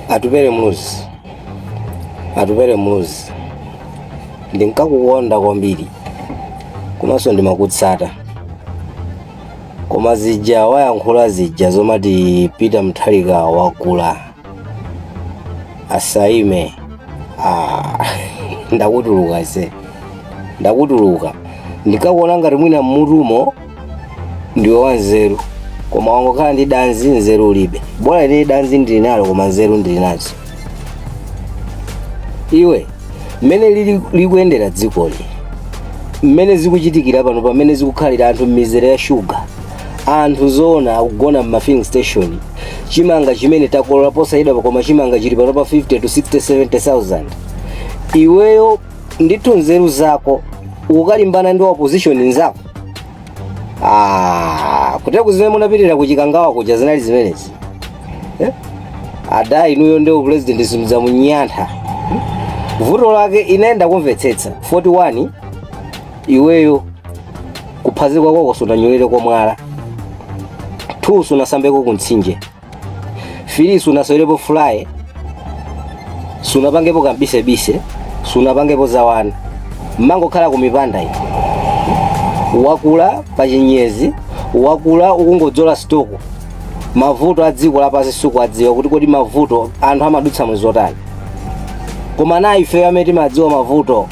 atupele muluzi atupele muluzi ndinkakukonda kwambiri komanso ndimakutsata koma zija wayankhula zija zomati peter mutharika wakula asaime ah, ndakutuluka se ndakutuluka ndinkakuona ngati mwina mmutumo ndiwe wanzeru koma wangokhala ndi danzi nzeru ulibe bora ine danzi ndili nalo koma nzeru ndili nazo iwe mmene lili- likuyendera dzikoli mmene zikuchitikira pano pamene zikukhalira anthu m'mizere ya shuga anthu zoona akugona m'mafilling station chimanga chimene takolola posachedwa koma chimanga chili pano pa 50 to 60 70000 iweyo ndithu nzeru zako ukalimbana ndi wa opposition nzako Ah, kutera kuzimene munapitira kuchikangawa kuja zinali zimenezi eh? ada inuyo ndiye upulezidenti simudzaunyantha vuto lake inaenda kumvetsetsa 41 iweyo kuphazikwa kwako sunanyolere kwa mwala 2 sunasambeko kumtsinje 3 sunasewerepo fulaye sunapangepo kambisebise sunapangepo zawana mmangokhala kumipanda eti wakula pa chinyezi wakula ukungodzola stoko mavuto a dziko lapansi sukuwadziwa kuti kodi mavuto anthu amadutsa muzotani koma nayi ifeyo amene timadziwa mavuto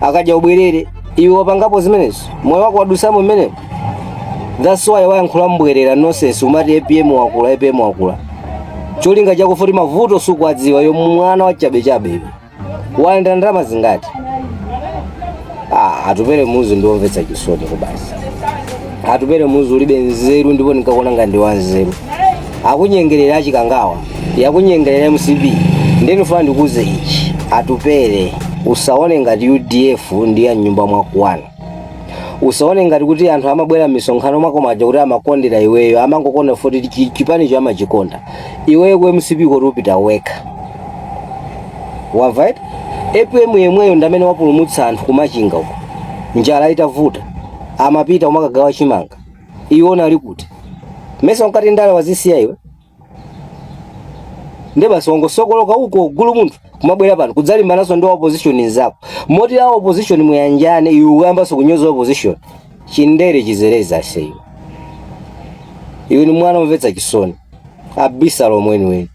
akadya ubwerere iwe wapangapo zimenezo moyo wako wadutsamo mmenemo that's why wayankhula mbwerera nonsense umati apm wakula apm wakula cholinga chakuti futi mavuto sukuwadziwa yo mwana wachabechabe iwe wayenda ndalama zingati ah, atupele muluzi ndiwomvetsa chisoni kwabasi atupele muluzi ulibe nzeru ndipo ndinkakuona ngati ndiwe wanzeru akunyengerera achikangawa yakunyengerera mcp nde nifuna ndikuze ichi atupele usaone ngati udf ndi ya mnyumba mwakomo wana usaone ngati kuti anthu amabwera m'misonkhano mwako muja kuti amakondera iweyo amangokonda futi chi- chipanicho amachikonda iweyo ku mcp koko upita wekha wamva eti apm yemweyo ndamene wapulumutsa anthu kumachinga uko njala itavuta amapita kumakagawa chimanga iwe unali kuti mesa unkati ndale wazisiya iwe nde basi wangosokoloka uko gulu munthu kumabwera pano kudzalimbananso ndi wa opposition nzako moti a opposition muyanjane iwe ukuyambanso kunyoza opposition chindere chitsereza iweyo iwe ni mwana omvetsa chisoni abisala omweniweni